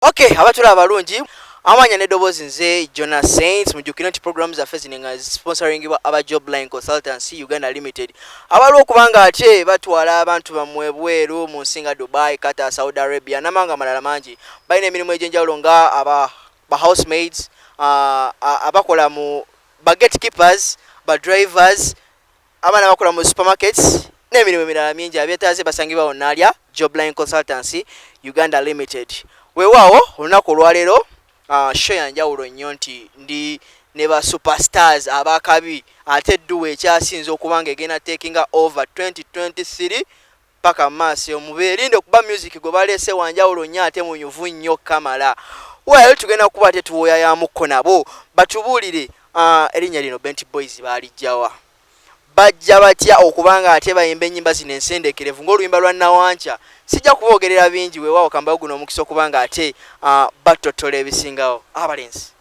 ok abatula abalungi amanya nedoboozi nze jona saints mujukire nti programu zaffe zino nga sponsoringibwa aba jobline consultancy uganda limited abaliwo okubanga ate batwala abantu bamwe bweru mu nsi nga dubai qatar saudi arabia namawanga amalala mangi balina emirimu egyenjawulo nga aba ba house maids uh, abakola mu ba gate keepers ba drivers Abaana bakola mu supermarkets n'emirimu emirala mingi abeetaaze basangibwa wonna alya Jobline Consultancy Uganda Limited. Weewaawo olunaku olwaleero ah, show ya njawulo nnyo nti ndi ne ba superstars abakabi ate duwa ekyasinze okuba nga egenda takinga over 2023 paka mumaaso eyo mubeerinde kuba music gwe baleese wanjawulo nnyo ate munyuvu nnyo kamala well tugenda kuba ate tuwoyayamukko nabo batubuulire uh, erinnya lino bent boys baalijjawa bajja batya okuba nga ate bayimba ennyimba zino ensendekerevu ng'oluyimba lwa nawankya sijja kuboogerera bingi weewaawo kambayo guno omukisa okuba nga ate uh, battotola ebisingawo abalenzi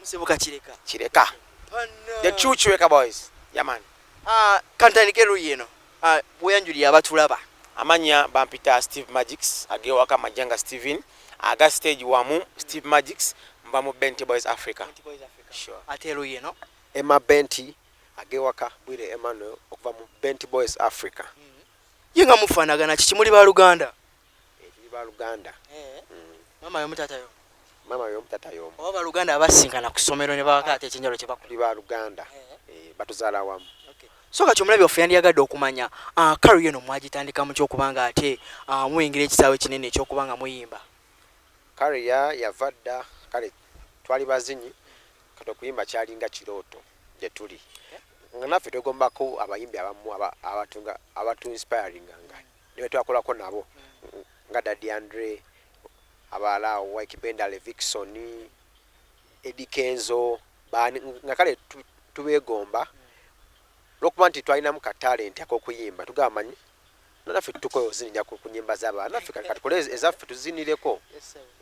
Musibuka Kireka. Kireka. Panna. The true Kireka boys. Yaman. Ah, uh, kantandike luyi eno. Ah, uh, bweyanjulira abatulaba. Amanya bampita Steve Magics, agewaka Majanga Steven, aga stage wamu Steve Magics, mba mu Benti Boys Africa. Benti Boys Africa. Sure. Ate luyi eno. Emma Benti, agewaka Bwire Emmanuel, okuva mu Benti Boys Africa. Mm -hmm. Yenga mufanagana, chichimuli ba Luganda. Eeh tuli baluganda eeh. Maama yomu taata yomu. Maama yomu taata yomu. Oba baluganda abasisinkana kusomero nebawaka ate ekyenjawulo kyebakola. Tuli baluganda eeh batuzala awamu. Okay so kati omulabi waffe yandiyagadde okumanya aah career eno mwagitandika mutya okuba nga ate aah muyingira ekisaawe ekinene ekyokuba nga muyimba. Career yava dda kale twali bazinyi kati okuyimba kyalinga kirooto gyetuli nga naffe twegomba ko abayimbi abamu abatu nga abatu inspiringa nga. ne be twakolako nabo nga Daddy Andre, abalala awo Wyke Bendale, Vixon, Eddy Kenzo, baani nga kale tubeegomba olw'okuba nti twalinamu ka talenti ak'okuyimba tugamba manyi naffe tutukoe ozinira ku nyimba z'abantu naffe kati katukole ezaffe tuzinireko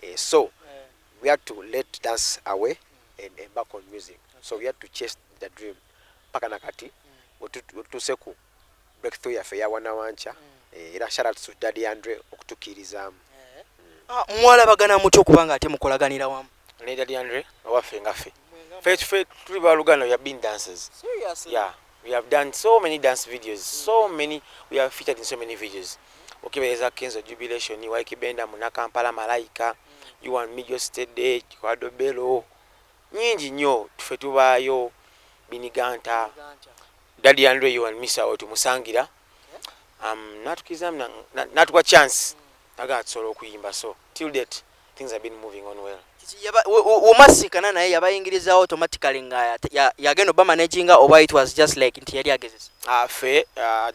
eh, so eh. we had to let dance away mm. and embark on music so we had to chase the dream paka na kati mm. wetutuseku mm. breakthrough yaffe eya wanawankya eh, era shout out to daddy andre okutukiirizaamu Ah, mwalabagana mutya okuba nga ate mukolaganira wamu ne daddy andre owaffe nga ffe ffe ffe tuli baluganda we have been dancers yeah we have done so many dance videos so many we have featured in so many videos okibereza kenzo jubilation waikibenda munakampala malaika you and me just a day kikwado belo Nyingi nnyo ffe tubaayo biniganta daddy and ray and misa wetumusangila um, natukiza natuwa chance naga tusobola okuyimba so till date things have been moving on well umasikana naye yabayingiriza automatically nga yagenda obamanaginga oba it was just like nti yali agezesa afe ah, uh,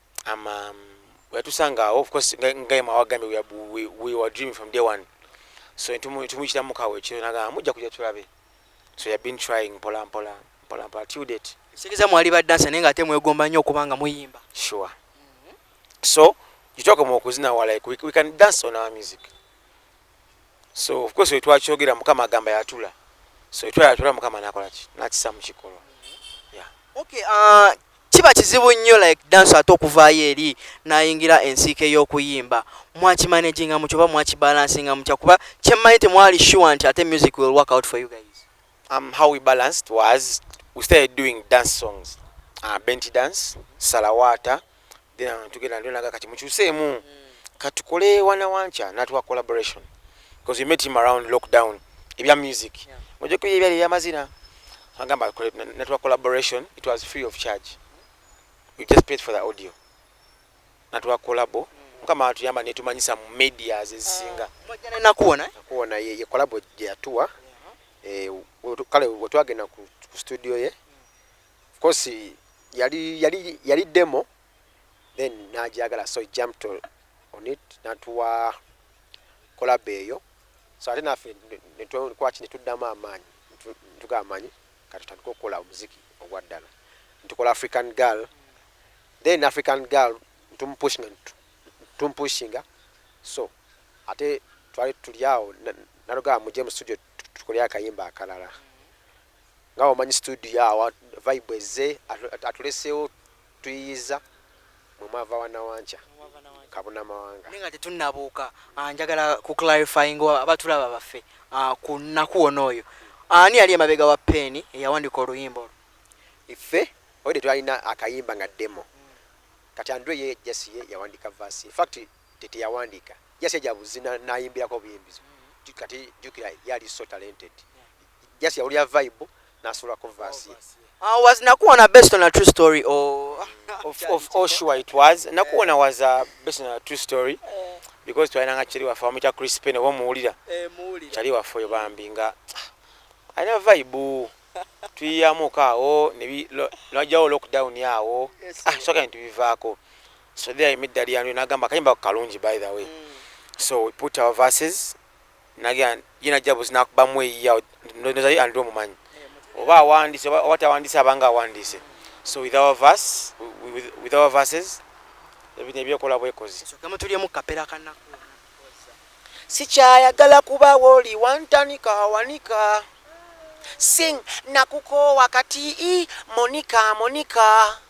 I'm um, yatusanga awo of course nga yema wagambye we, we, we were dreaming from day one so tumuyitira mukawo ekiro nagamba mujja kujja tulabe so you have been trying mpola mpola mpola mpola till date sikiriza mwali ba dansa naye nga ate mwegomba nnyo okuba nga muyimba sure mm -hmm. so you talk about okuzina wala we, we can dance on our music so of course wetwakyogera mukama agamba yatula so wetwayatula mukama nakolaki nakisa mukikolo yeah. okay, uh, kiba kizibu nnyo like danso ate okuvaayo eri nayingira ensiika ey'okuyimba mwakimanaginga mukyo oba mwakibalansinga mutya kuba kyemmanyi temwali sure nti ate music will work out for you guys um, how we balanced was we started doing dance songs uh, benti dance salawata then tugenda ndio naga kati mukyuseemu katukole wana wancha natuwa collaboration because we met him around lockdown ebya music ngoje kuye ebya ebya mazina agamba natuwa collaboration it was free of charge we just paid for the audio natuwa collabo mukama atuyamba netumanyisa mu medias ezisinga ah, nakuwona eh? nakuwona ye, ye collabo gyeyatuwa eh, kale wetwagenda ku studio ye Of course yali yali yali demo then najagala so jumped on it natuwa collab eyo so ate nafe netwachi netuddamu amaanyi ntuga amanyi kati tutandika okukola omuziki ogwa ddala ntukola african girl then african girl tumupushinga tumupushinga so ate twali tuli awo nalugaa muje mu studio tukolea akayimba akalala nga wamanyi studio awa vibe ezze atulesewo tuyiyiza mwe mwava wanawankya kabuna mawanga naye nga tetunabuuka ah, njagala ku clarifying abatulaba baffe ah, ku nnaku wona oyo ani yali emabega wa peeni eyawandika oluyimba olwo iffe oyo tetwalina akayimba nga demo kati andrew ye jasi ye yawandika vasi infact teteyawandika jasi yajabuzina nayimbirako obuyimbizo kati jukira yali so talented just yawulira vibe nasulako verse ye Ah, was Nakuona based on a true story or? of, of, oh, sure it was. Nakuona was uh, based on a true story eh. because twalina nga cheri waffe wamuyita Chris Payne oba omuwulira eh, cheri waffe oyo bambi nga alina vibe tuyiyamuko awo nwajawo lockdown awo ah, soka bintu bivaako so there imiddalyanu nagamba akayimba kalungi by the way mm. so we put our verses Nagera ye najja buzi nakubamu eyiya ndoza ye andrew mumanyi oba awandise oba oba tawandise abanga awandise so with our verse with, with our verses ebintu ebyekola bwekozi Nsooke mutulyemu kapera kanaku. Sikyayagala kubawo oli wantanika wanika Sing nakukoowa kati ii Monica Monica.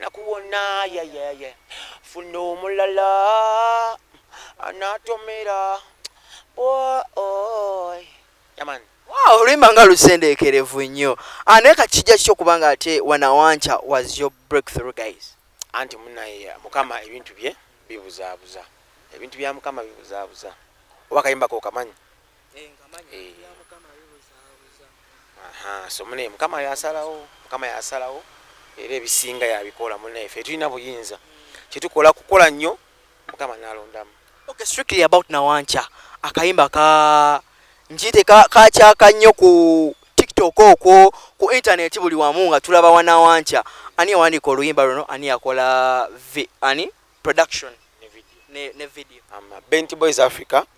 nakuwona yayaya funa omulala anatomera boy yaman wow olimba nga lusendeekerevu nnyo ah, naye kati kijja kiki okuba nga ate wanawanca was your breakthrough guys anti munaye mukama ebintu bye bibuzaabuza ebintu bya mukama bibuzaabuza oba akayimba kokamanyi so mune mukama yasalawo mukama yasalawo era ebisinga yabikola mune fe tulina buyinza kyetukola kukola nnyo mukama nalondamu okay, strictly about nawanca akayimba ka njite kakyaka nnyo ku tiktok okwo ku intaneti buli wamu nga tulaba wanawanca ani yawandiika oluyimba luno ani yakola ani production ne video bent boys africa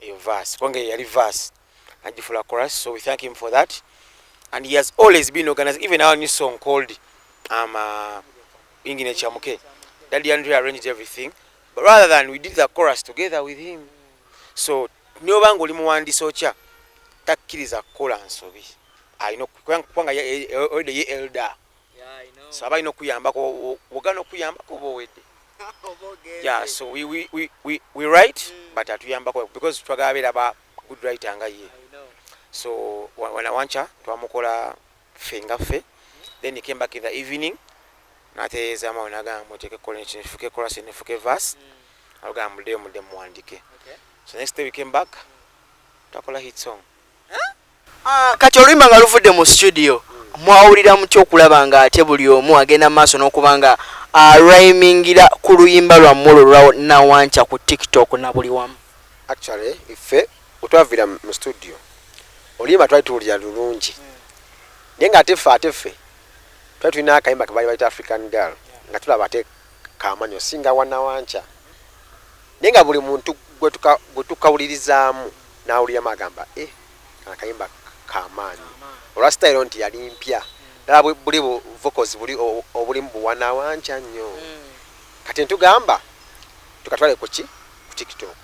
eyo verse kubanga eyo yali verse najifula chorus so we thank him for that and he has always been organized even our new song called um, uh, ingine chamuke daddy andre arranged everything but rather than we did the chorus together with him so nobanga oli muwandisi okya takkiriza kukola nsobi alina kubanga ye elda so abalina okuyambako wogana okuyambako oba owedde yeah so we, we, we, we, we write mm. but atuyambako because twagala beera ba good writer nga ye so wanawanca twamukola ffe nga ffe then he came back in the evening natereeza mawe nagamba muteeke kola ekyo nefuke kolasi nefuke vas mm. agamba muddeyo mudde muwandike so next day we came back mm. twakola hit song Ah, kati oluyimba nga luvudde mu studio mwawulira mutya okulaba nga ate buli omu agenda maaso n'okuba nga aryimingira ah, ku luyimba lwammwe olwo lwa nawanca ku tiktok na buli wamu actually ife wetwavira mu studio oluyimba twali tuwulira lulungi naye nga ate ffe ate ffe twali tulina akayimba kebaali baita african girl nga tulaba ate Kaamanyi osinga wa Nawankya? Naye nga buli muntu gwe tukawulirizaamu n'awuliramu agamba eh kano akayimba kamaanyi olwa sitayiro nti yali mpya ddala buli bu vocals buli obulimu buwa Nawankya nnyo. Hmm. Kati ntugamba tukatwale ku ki ku TikTok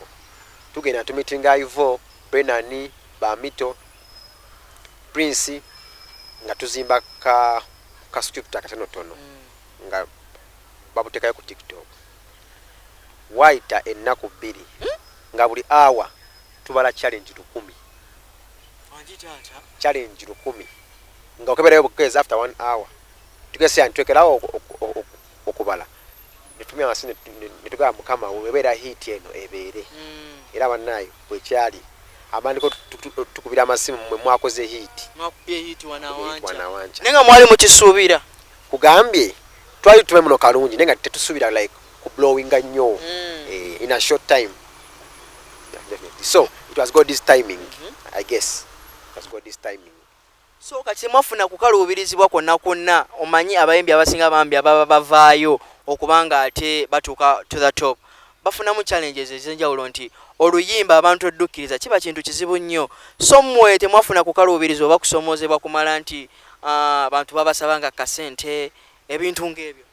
tugenda tumitinga Ivo, Benani, Bamito, Prince nga tuzimba ka ka script akatonotono. Hmm. nga babutekayo ku tiktok wayita ennaku bbiri nga buli hour tubala challenge lukumi challenge lukumi nga okeberayo bukezi after one hour tugese yani twekerawo okubala netumya wansi netugaba mukama webeera hit eno ebeere mm. era banaye bwekyali amandiko tukubira amasimu mwe mwakoze hit mwakubye hit wanawanca nenga mwali mukisuubira Nkugambye twali tumanyi muno kalungi naye nga tetusubira like ku blowinga nnyo mm. eh, in a short time so it was god this timing mm -hmm. i guess it was god this timing so kati mwafuna kukaluubirizibwa kwonna kwonna omanyi abayimbi abasinga bambi ababa bavaayo okubanga ate batuuka to the top bafunamu challenges ezenjawulo nti oluyimba abantu eddukkiriza kiba kintu kizibu nnyo so mmwe temwafuna kukaluubirizwa oba kusomoozebwa kumala nti abantu babasaba nga kasente ebintu ng'ebyo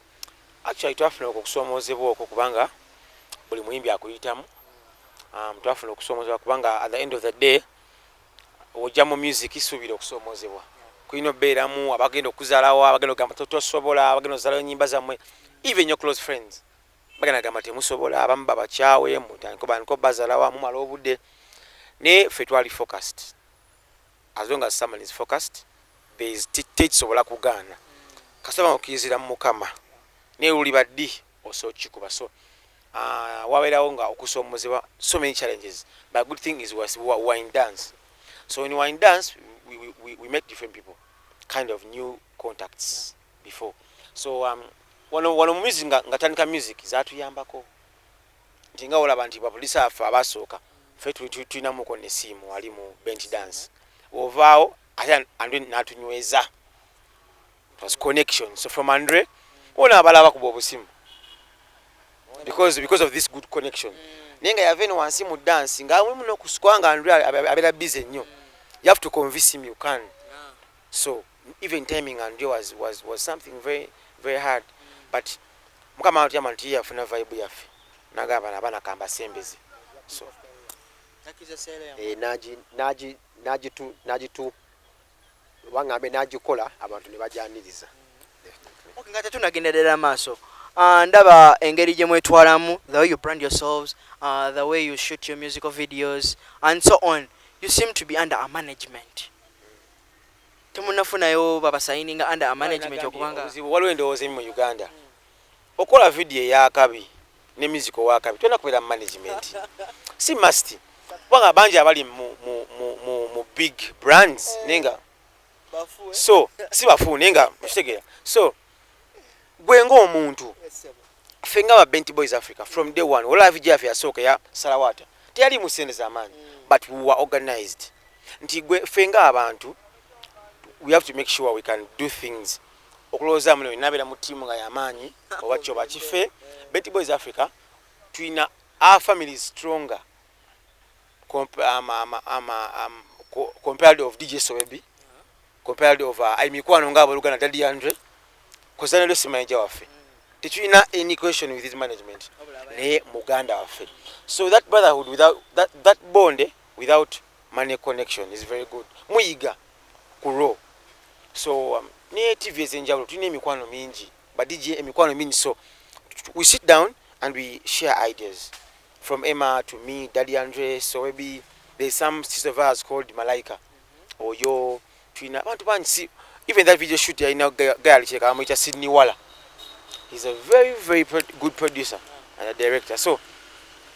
actually twafuna okwo okusoomoozebwa okwo kubanga buli muyimbi akuyitamu um, twafuna okusoomoozebwa kubanga at the end of the day ojja mu music suubira okusoomoozebwa kulina obeeramu abagenda okuzalawo abagenda ogamba tosobola abagenda ozalawo enyimba zammwe even your close friends bagenda gamba temusobola abamu babakyawe mutandiko bandiko bazalawo amumala obudde naye ffe twali focused As long as someone is focused there is tekisobola kugaana kasita okiyizira mu mukama naye luliba ddi osobola okukikuba so uh, wabeerawo nga okusoomozebwa so many challenges but good thing is was, we were in dance so when we were in dance we, we, we, we met different people kind of new contacts before so um, wano wano mumizi nga, nga tandika music zatuyambako nti nga olaba nti bapolisi affe abasooka fe tulinamuko nesiimu ali mu bench dance ovaawo ate andre natunyweza was connection so from andre ona abala bakuba obusimu because because of this good connection mm. naye nga yava eno wansi mu dance nga awe muno kusukwa nga andre abera busy nnyo you have to convince him you can so even timing and you was was was something very very hard but mukama watu yamantu yeye afuna vibe yafe naga abana abana kamba sembeze so nakiza sele ya eh naji naji naji tu naji tu wanga ambe naji kola abantu ne bajaniriza okay ngate tunagenderera maso Uh, ndaba engeri gye mwetwalamu the way you brand yourselves uh, the way you shoot your musical videos and so on you seem to be under a management temunafunayo baba sayininga under a management okuba nga. Obuzibu waliwo endowooza emu mu Uganda okukola video eyakabi ne music owakabi tolina kubeera mu management si must kubanga bangi abali mu, mu, mu, mu, mu big brands naye nga so si bafu naye nga okitegeera so gwe nga omuntu ffe nga ba bent boys africa from day one olavi jafe yasooka ya salawata teyali mu sente zamaanyi mm. but we were organized nti gwe ffe nga abantu we have to make sure we can do things okulowooza muno nabeera mu tiimu nga yamaanyi oba kyoba kife bent boys africa tulina our family is stronger compared of dj soebi compared of uh, ai mikwano nga aboluganda daddy andre kuzana lesi manager waffe tetulina any question with his management naye muganda waffe so that brotherhood without that, that bond without money connection is very good muyiga ku raw so um, ne tv ezenjawulo tulina emikwano mingi badj emikwano mingi so we sit down and we share ideas from emma to me daddy andre so maybe there's some sister of ours called malaika oyo tulina abantu bangi si even that video shoot yalina gayali kireka bamuyita sydney wala he's a very very pro good producer and a director so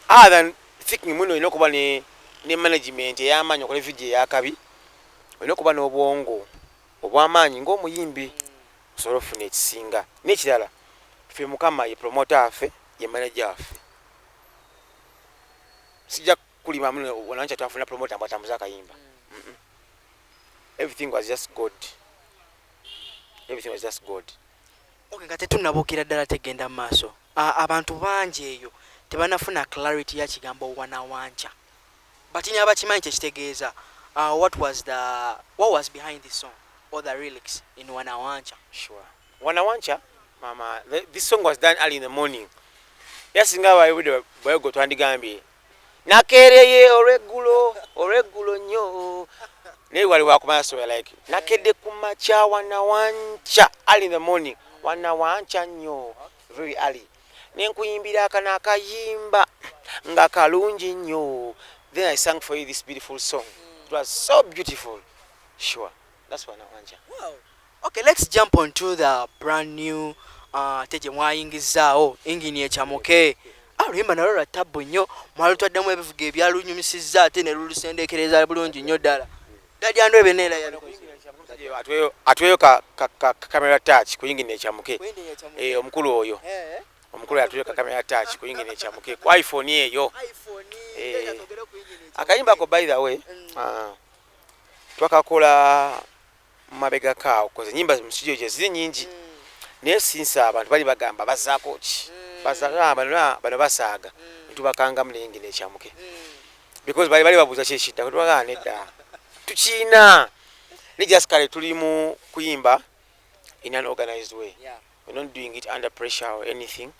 other than thinking muno olina okuba ne ne management eyamaanyi okola video eyakabi olina okuba n'obwongo obwamaanyi ng'omuyimbi osobola okufuna ekisinga n'ekirala ffe mukama ye promota affe ye manaja waffe sijja kuli mamule wanancha twafuna promoter mbu atambuza akayimba mm -mm. everything was just god everything was just god okay nga tetunnabukira ddala tegenda mu maaso abantu bangi eyo tebanafuna clarity ya kigambo wanawancha batini abakimanyi kyekitegeeza uh, what was the what was behind this song or the relics in wanawancha sure wanawancha mama this song was done early in the morning yasinga abayibude bwego twandigambye nakeereye olweggulo olweggulo nnyo naye wali wakumanya so like nakedde ku makya wanawanca early in the morning wanawanca nnyo very early nenkuyimbira akana akayimba nga kalungi nnyo then i sang for you this beautiful song it was so beautiful sure that's wanawanca wow. Okay let's jump on to the brand new uh, te gyemwayingizzaawo engine ecamuke ah, oluyimba nalwo lwa tabbu nnyo mwalutwaddemu ebivuga ebyalunyumisizza ate ne lulusendeekereza bulungi nnyo ddala dadyandu ebe neera atweyo kakamera touch ku yingini ecamuke eh, omukulu oyo eh, eh. omukulu atweyo kakamera touch ku yingini ecamuke ku iphone eyo akayimba ko by the way mm. ah, twakakola mabegako awo koze nyimba mu studio je ziri nyingi mm. naye sinsa abantu bali bagamba bazako ki mm. bazaka abantu na bano basaga mm. tubakanga mlingi ne chamuke mm. because bali bali babuza ki shida ko twaga ne da tuchina ni just kale tuli mu kuimba in an organized way yeah. we're not doing it under pressure or anything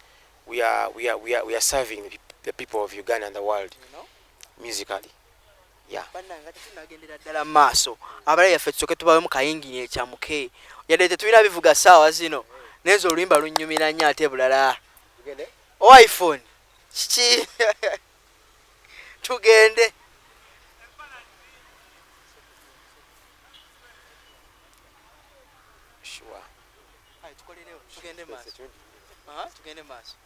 we are we are we are we are serving the people of Uganda and the world you know? musically bannange ate tunagendera ddala mu maaso abala yaffe tusoke tubawemu kayingini ekyamuke yadde tetulina bivuga saawa zino naye nze oluyimba lunnyumira nnyo ate bulala o iphone kiki tugende tugende maaso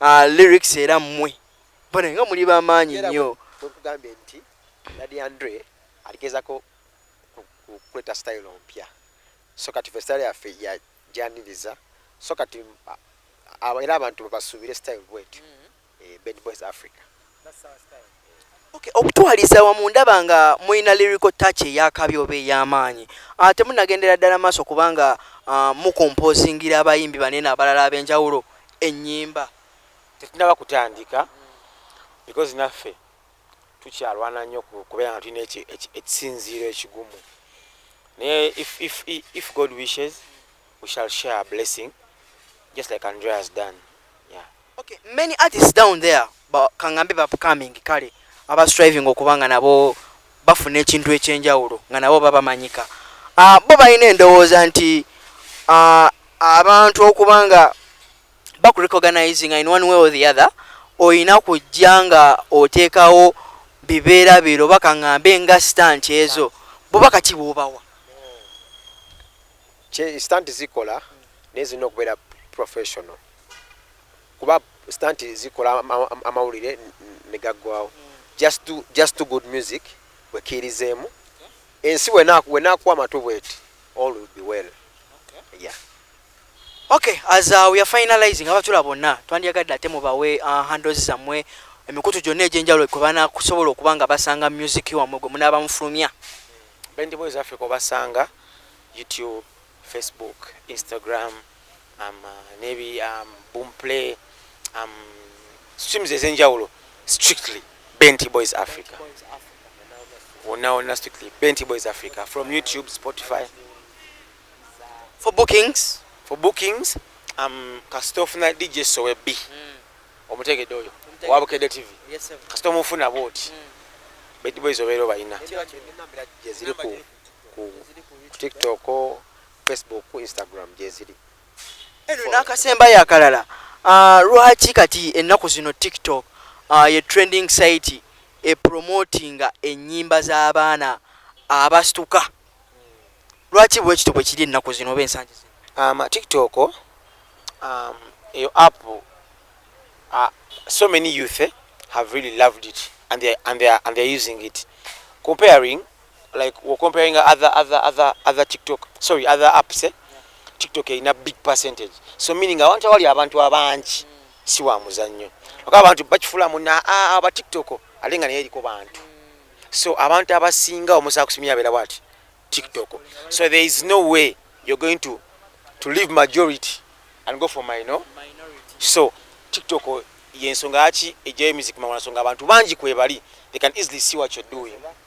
uh, lyrics era mwe bana nga muli bamaanyi nnyo wekugambye nti dadi andre aligezako kuleta style mpya so kati festale yaffe yajaniriza so kati era abantu bebasuubire style bwetyo mm -hmm. eh, bed boys africa Okay, okutwaliza wamu ndaba nga mulina lyrical touch eyakabi oba ey'amaanyi ah, temunagendera ddala maaso kubanga ah, mukompozingira abayimbi banene abalala ab'enjawulo ennyimba tetunaba kutandika because naffe tukyalwana nnyo kubeera nga tulina ekisinziiro ekigumu naye if, if, if god wishes we shall share a blessing just like andrea has done Okay, many artists down there ba, kangambe ba upcoming kale aba striving okuba nga nabo bafuna ekintu ekyenjawulo nga nabo baba manyika uh, ah, bo balina endowooza nti uh, abantu okuba nga bakurecognizing in one way or the other olina kujja nga oteekawo bibeera biro oba kangambe nga stant ezo boba kati bwobawa stant zikola naye zirina okubeera professional kuba stunt zikola amawulire negaggwawo just do, just do good music wekiirizeemu ensi wenakuwa amatu bweti all will be well okay. yeah okay as uh, we are finalizing abatula bonna twandyagadde ate mubawe uh, handles zammwe emikutu gyonna egyenjawulo kwe banakusobola okuba nga basanga music wammwe gwe munaaba mufulumya bendi boys africa obasanga youtube facebook instagram am nebi am boom play am streams ezenjawulo strictly benti boys africa wonna wonna strictly benti boys africa from youtube spotify for bookings for bookings am kasita ofuna dj sowe b mm. omutegedde oyo owa bukedde tv yes, kasita omufuna bwoti mm. benti boys obeera obalina ziri ku tiktok Facebook ku Instagram gyeziri. Eno n'akasembayo akalala ah, lwaki kati ennaku zino TikTok ah, ye trending site epromotinga ennyimba z'abaana abastuka lwaki bwekityo bwe kiri ennaku zino oba ensangi zino? Um, TikTok um, eyo app uh, so many youth eh, have really loved it and they, and they, and they using it comparing like we're comparing other other other other TikTok sorry other apps eh? TikTok in a big percentage so meaning abantu awali abantu abangi si wa muzannyo okuba abantu bakifula muna ah, aba TikTok alinga naye eriko bantu so abantu abasinga omusaa kusimia abeera bwati TikTok so there is no way you're going to to leave majority and go for my no so TikTok yensonga yaki ejayo music mawana songa abantu bangi kwebali they can easily see what you're doing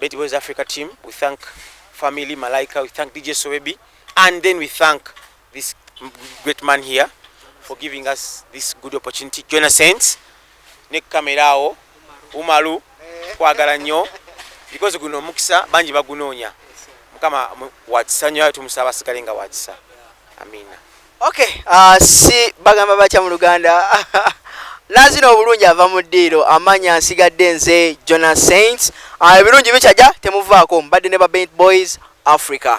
Betty Boys Africa team, we thank family Malaika, we thank DJ Sowebi, and then we thank this great man here for giving us this good opportunity. Join us saints. Ne kamera awo Umaru kwagala nnyo because guno omukisa bangi bagunoonya. Mukama wakisa nnyo tumusaba asigale nga wakisa. Amina. Okay, uh, si bagamba batya mu Luganda nazina obulungi ava mu ddiiro amanya nsigadde nze jona saints ah, ebirungi uh, bikyaja temuvaako mbadde ne ba bent boys africa